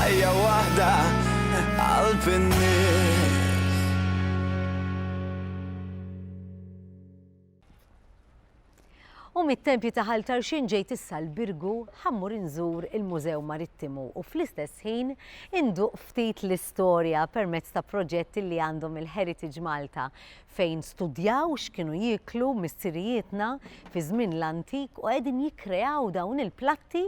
Ħajja waħda qalb in-nies. U mit-tempji ta' Ħal Tarxin ġejt issa l-Birgu ħammur inżur il-Mużew Marittimu u fl-istess ħin induq ftit l-istorja permezz ta' proġetti li għandhom il-Heritage Malta fejn studjaw x'kienu jieklu missirijietna fi żmien l-antik u qegħdin jikkreaw dawn il-platti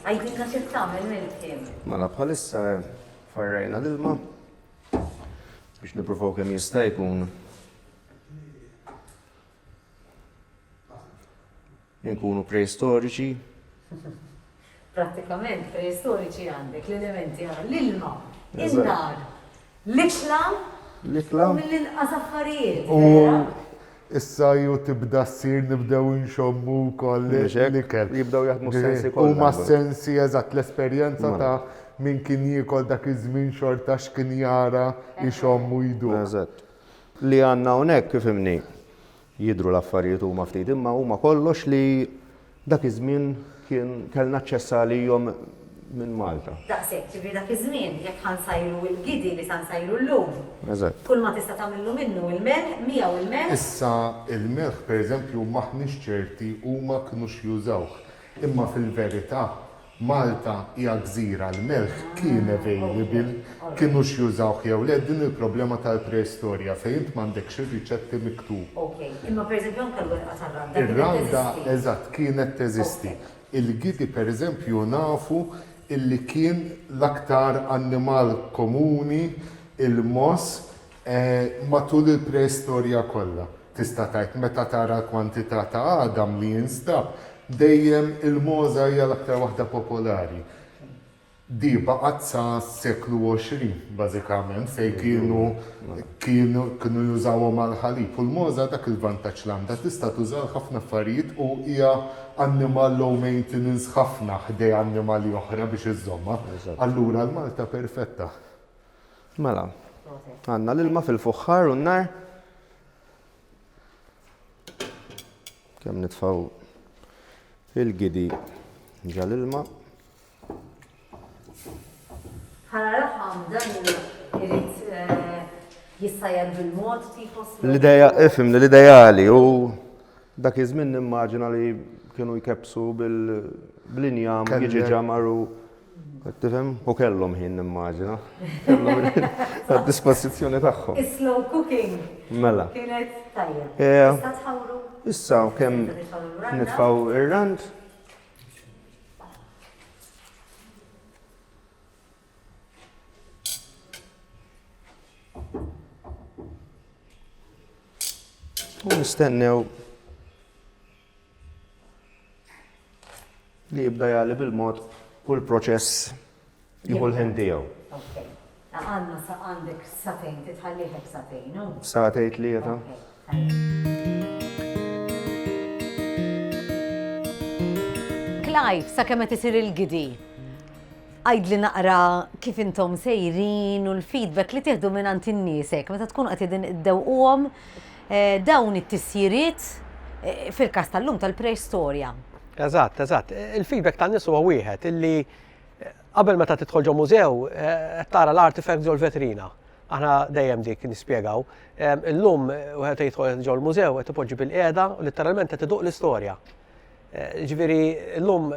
Għidilna x'qed tagħmel mill-ħin. Mela bħalissa farrajna l-ilma biex nippruvaw kemm jista' jkun inkunu preistoriċi. Prattikament preistoriċi għandek l-elementi għal l-ilma, in-nar. L-ikla hu mill-inqas affarijiet, vera? U issa ju tibda ssir nibdew inxommu wkoll l-ikel. Mhux hekk? Jibdew jaħdmu s-sensi kollha. Huma s-sensi, eżatt, l-esperjenza ta' min kien jiekol dak iż-żmien xorta x'kien jara, ixomm u jduq. Eżatt. Li għandna hawnhekk, ifhimni, Jidhru l-affarijiet huma ftit imma huma kollox li dak iż-żmien kien kellna aċċess għalihom minn Malta. Daqshekk, ġifieri dak iż-żmien jekk ħa nsajru il-gidi li sa nsajru llum. Eżatt. Kull ma tista' tagħmillu minnu il-melħ, miegħu il-melħ. Issa il-melħ pereżempju m'aħniex ċerti huma kinux jużawh. Imma fil-verità Malta hija gżira, l-melħ kien available, kinux jużawh jew le, din il-problema tal-preistorja fejn int m'għandekx ir-riċetti miktub. Ok, imma per eżempju anke l-werqa tar-randa kienet teżisti. Ir-randa, eżatt, kienet teżisti. Il-gidi per eżempju nafu illi kien l-aktar annimal komuni, il-mogħoż, Matul il-preistorja kollha, tista' tgħid, meta tara l-kwantità ta' għadam li jinstab, dejjem il-mogħża hija l-aktar waħda popolari. Di baqgħet sa s-seklu 20, bażikament, fejn kienu kienu kienu jużawhom għall-ħalib. U l-mogħża dak il-vantaġġ li għandha, tista' tuża għal ħafna affarijiet u hija annimal low maintenance ħafna ħdej annimali oħra biex iżżommha. Allura l-malta perfetta. Mela, għandna l-ilma fil-fuħħar u n-nar. Kemm nitfaw il-gidi ġal-ilma. Ħala raħam dan irid eh, jissajjad bil-mod tipos. L-ideja, ifim li l-ideali u dak iż-żmien nimmaġina li kienu jkepsu bil-injam jiġi ġamaru Tifhem? U kellhom ħin nimmaġina. Għad-dispożizzjoni tagħhom. Is-slow cooking. Mela. Kienet tajjeb. Issa tħawru. Issa kemm nitfgħu ir-rand. U nistennew Li jibda jagħli bil-mod u l-proċess jieħu l-ħin tiegħu. Okay. Għandna sa għandek satejn, titħallih hekk satejn, u? Satejn tlieta. Clive, sa kemm qed isir il-gidi? għajd li naqra kif intom sejrin u l-feedback li tieħdu minn għand in-niesek, meta tkun qed idin iddewquhom Dawn it-tisjiriet, fil-każ tal-lum, tal-preistorja. Eżatt, eżatt. Il-feedback tan-nies huwa wieħed illi qabel meta tidħol ġo mużew qed tara l-artifacts ġo l-vetrina. Aħna dejjem dik nispjegaw. Illum wieħed jidħol ġo l-mużew qed ipoġġi bilqiegħda u litteralment qed iduq l-istorja. Ġifieri llum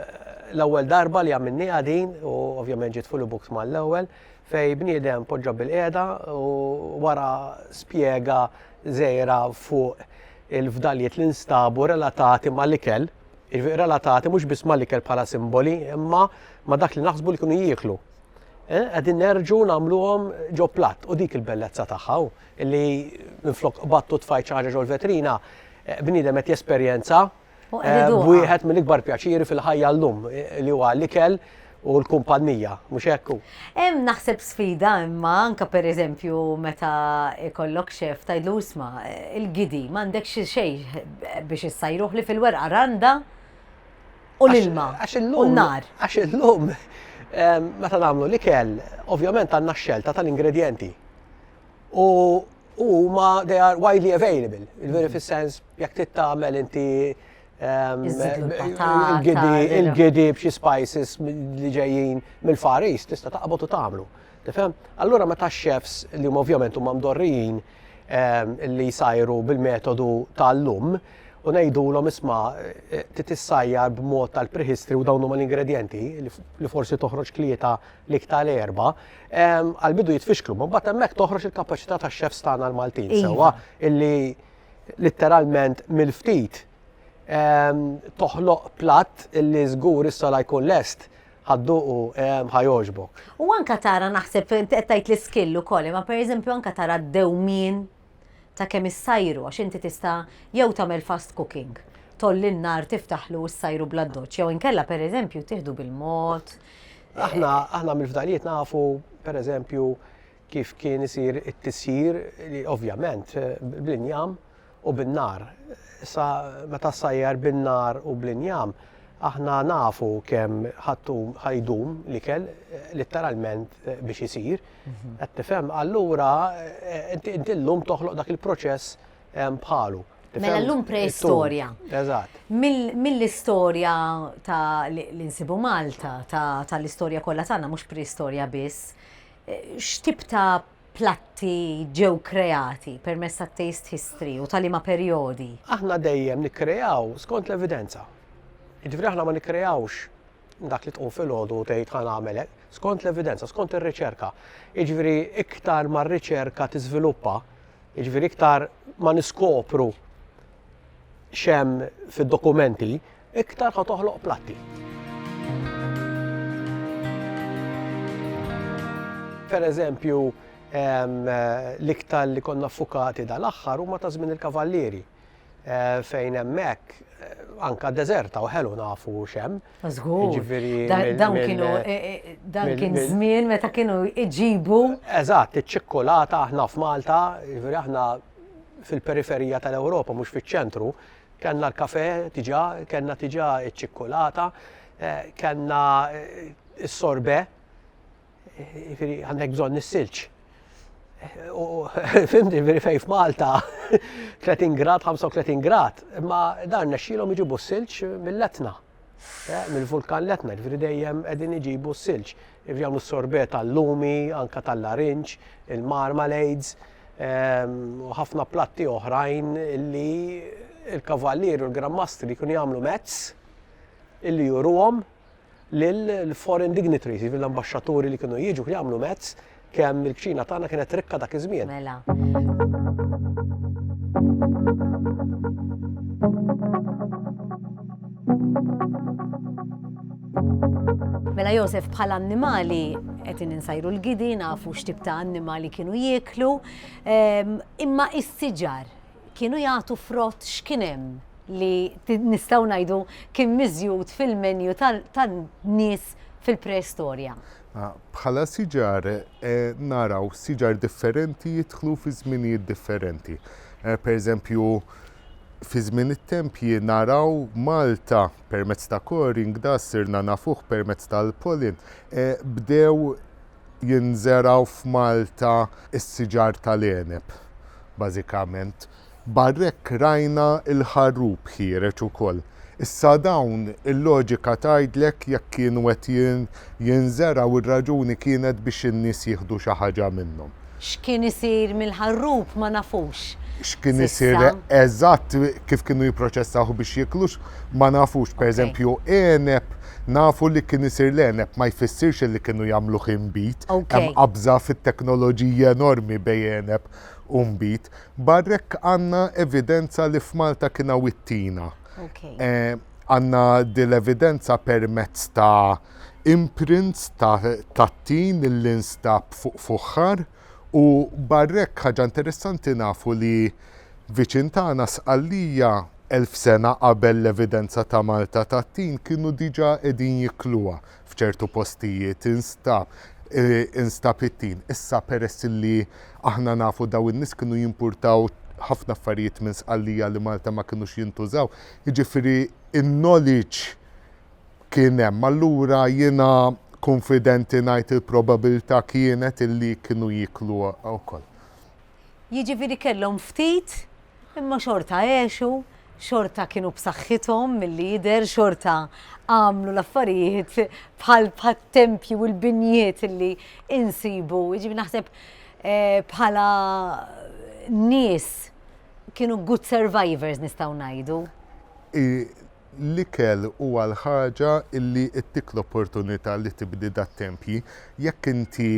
l-ewwel darba li għamilniha din u ovvjament ġiet full books mal-ewwel fej bniedem poġġa bil-qiegħda u wara spjega żejra fuq il-fdalijiet li nstabu relatati mal-ikel, jiġifieri relatati mhux biss mal-ikel bħala simboli, imma ma dak li naħsbu li kienu jieklu. Eh, qegħdin nerġu nagħmluhom ġo platt u dik il-bellezza tagħha. Li minflok qbadt u tfajt xi ħaġa ġol-vetrina, bniedem qed jesperjenza b'wieħed mill-ikbar pjaċiri fil-ħajja llum, li huwa l-ikel u l-kumpannija, mhux hekk hu? Hemm naħseb sfida imma anke pereżempju meta jkollok xef tgħidlu isma' il-gidi m'għandekx xejn biex issajruh li fil-werqa randa u l-ilma u n-nar. Għax illum meta nagħmlu l-ikel, ovvjament għandna x-xelta tal-ingredjenti. u huma they are widely available. Il-veri fis-sens jekk trid tagħmel inti ehm, il-gidi b'xi spices li ġejjin mill-Far East tista' taqbod u tagħmlu. Tifhem? Allura meta chefs li huma ovvjament huma mdorrijin ehm, li jsajru bil-metodu tal-lum u ngħidulhom isma' eh, titissajjar b'mod tal-prehistory u dawn huma l-ingredjenti li forsi toħroġ klieta l-ik tal-erbgħa, għall-bidu jitfixklu, ma mbagħad hemmhekk toħroġ il-kapaċità tax-chefs tagħna l-Maltin iva. sewwa illi litteralment mill-ftit toħloq platt illi żgur issa la jkun lest ħadduqu ħajoġbok. U anka tara naħseb qed tgħid l-iskill ukoll, ma pereżempju anka tara d-dewmien ta' kemm issajru għax inti tista' jew tagħmel fast cooking, tgħolli n-nar tiftaħlu u ssajru bl-addoċċ jew inkella pereżempju tieħdu bil-mod. Aħna aħna mill-fdalijiet nafu pereżempju kif kien isir it-tisjir li ovvjament bl-injam u bin-nar. Sa meta ssajjar bin-nar u bl-injam aħna nafu kemm ħaddum ħajdum l-ikel litteralment biex isir. Qed tifhem? Allura inti llum toħloq dak il-proċess bħalu. Mela llum preistorja. Eżatt. Mill-istorja ta' l-insibu Malta, tal-istorja kollha tagħna mhux preistorja biss, x'tip ta' platti ġew kreati permezz tat-taste history u tal-ima perjodi? Aħna dejjem nikkreaw skont l-evidenza. Jiġifieri aħna ma nikkreawx dak li tqum filgħodu u tgħid ħa nagħmel hekk, skont l-evidenza, skont ir-riċerka. Jiġifieri iktar ma r-riċerka tiżviluppa, jiġifieri iktar ma niskopru xem fid-dokumenti, iktar ħa toħloq platti. Per eżempju, l-iktar li konna fukati dal-aħħar huma ta' żmien il-kavallieri. fejn hemmhekk anka deżerta u ħelu nafu xem. Żgur. Jiġifieri dawn kienu e, e, dan kien żmien meta kienu iġibu. Eżatt, iċ-ċikkulata aħna f'Malta, jiġifieri aħna fil-periferija tal-Ewropa mhux fiċ-ċentru, kellna l-kafe diġà, kellna diġà iċ-ċikkulata, e, kellna s-sorbe, Jiġifieri għandek bżonn is-silġ. Fimti, jiġifieri fejn f'Malta 30 grad, 35 grad, imma dan nexxilhom iġibu s-silġ mill-Etna. Eh, mill-vulkan l-Etna, jiġifieri dejjem qegħdin iġibu s-silġ. Jiġifieri jagħmlu sorbet tal-lumi, anka tal-larinġ, il-marmalades, ehm, u ħafna platti oħrajn li il-kavallier u l-grammastri kun jagħmlu mezz illi juruhom lill-foreign dignitaries, jiġifieri l-ambaxxaturi li kienu jiġu, kienu jagħmlu mezz kemm il-kċina tagħna kienet rikka dak iż-żmien. Mela. Mela Josef, bħala annimali qed insajru l-gidi, nafu x'tip ta' annimali kienu jieklu, ehm, imma is-siġar Kienu jagħtu frott x'kien hemm li nistgħu ngħidu kien miżjud fil-menju tan-nies fil-preistorja? Bħala siġar naraw siġar differenti jidħlu fi żminijiet differenti. Pereżempju, fi żmien it-tempji naraw Malta permezz ta' Coring, da sirna nafuh permezz tal-Pollen, bdew jinżergħu f'Malta s-siġar tal-għeneb bażikament. Barr'hekk rajna l-ħarrub ħiereġ ukoll. Issa dawn il-loġika tgħidlek jekk kienu qed jinżergħu r-raġuni kienet biex in-nies jieħdu xi ħaġa minnhom. X'kien isir mill-ħarrub ma nafux. X'kien isir eżatt kif kienu jipproċessawh biex jiekluh ma nafux. Pereżempju, għeneb, nafu li kien isir l-għeneb ma jfissirx li kienu jagħmluh inbid. Hemm qabża fit-teknoloġija enormi bejn għeneb u nbid. Barra hekk għandna evidenza li f'Malta kien hawn it-tina. Għandna din l-evidenza permezz ta' imprints tat-tin li nstab fuq fuħħar u barra hekk ħaġa interessanti nafu li viċin tagħna Sqallija elf sena qabel l-evidenza ta' Malta tat-tin kienu diġà qegħdin jikluha f'ċertu postijiet instab instab it-tin. Issa peress illi aħna nafu dawn in-nies kienu jimpurtaw ħafna affarijiet minn Sqallija li Malta ma kinux jintużaw Jiġifieri n-knowledge kien hemm. Allura jiena kunfidenti ngħid il-probabilità kienet illi kienu jieklu wkoll. Jiġifieri kellhom ftit imma xorta għexu, xorta kienu b'saħħithom milli jidher, xorta għamlu l-affarijiet bħal t-tempji u l-binjiet illi insibu. Jiġifieri naħseb bħala nies kienu good survivors nistgħu ngħidu. L-ikel huwa l-ħaġa li ttik l-opportunità li tibni dat-tempji. Jekk inti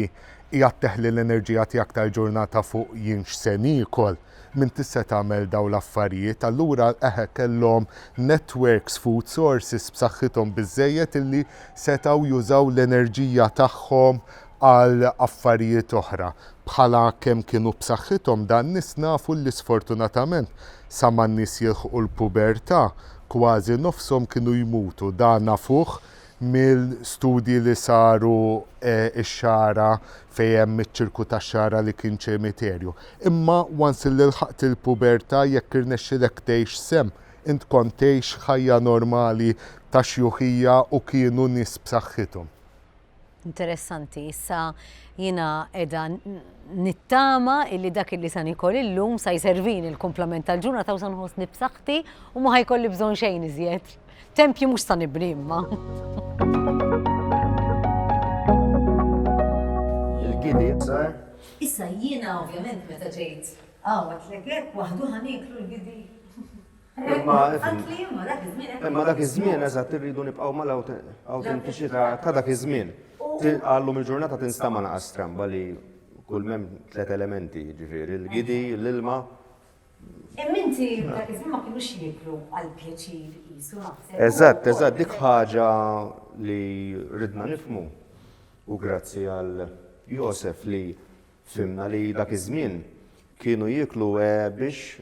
qiegħed teħli l-enerġija tiegħek tal-ġurnata fuq jien x'se niekol, m'int tista' tagħmel dawn l-affarijiet. Allura eħe kellhom networks, food sources b'saħħithom biżżejjed illi setgħu jużaw l-enerġija tagħhom għal affarijiet oħra. Bħala kemm kienu b'saħħithom dan nies nafu li sfortunatament sa ma n-nies jilħqu l-pubertà kważi nofshom kienu jmutu. Dan nafuh mill-studji li saru x-Xagħra fejn hemm iċ-ċirku tax-Xagħra li kien ċemiterju. Imma once illi lħaqt il-pubertà jekk irnexxilek tgħix sehem int kont tgħix ħajja normali ta' xjuħija u kienu nies b'saħħithom. Interessanti, issa jina edha nittama illi dak illi sa nikol illum sa jservin il-komplement tal-ġuna ta' usan ħosni b'saħħti u ma ħajkolli bżon xejn iżjed. Tempju mux sa nibni imma. Il-gidi, Issa jiena ovvjament meta ġejt għawat l-ekek waħdu ħaniklu l-gidi. Imma imma dak iż-żmien eżatt irridu nibqgħu mal-awtentiċità ta' dak iż-żmien. Għallum il-ġurnata tinstama' naqa' stramba li kull mem tliet elementi, ġifieri l-gidi, l-ilma. Imma inti dak iż-żmien ma kinux jieklu għal pjaċir qisu naħseb. Eżatt, eżatt, dik ħaġa li ridna nifhmu u grazzi għal Josef li fhimna li dak iż-żmien kienu jieklu biex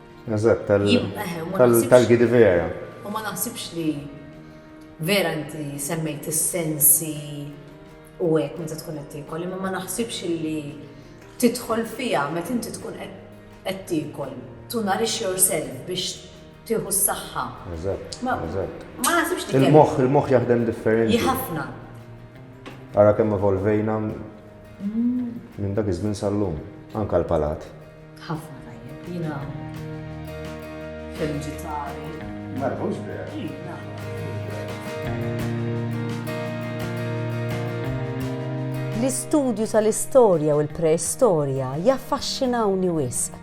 Eżatt, tal-Gidi vera. U ma naħsibx li vera inti semmejt is-sensi u hekk meta tkun qed tiekol, imma ma naħsibx li tidħol fiha meta inti tkun qed tiekol. To nourish yourself biex tieħu s-saħħa. Eżatt. Ma naħsibx li. Il-moħħ, il-moħħ jaħdem differenti. Ħafna. Ara kemm evolvejna mm. minn dak iż-żmien sal-lum, anka l-palat. Ħafna tajjeb, jiena feliċi tali. Mela, mhux vera. L-istudju tal-istorja u l-preistorja jaffaxxinawni wisq.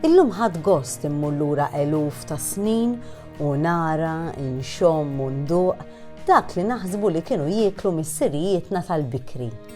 Illum ħadt gost immur lura eluf ta' snin u nara, inxomm u nduq dak li naħsbu li kienu jieklu missirijietna tal-bikri.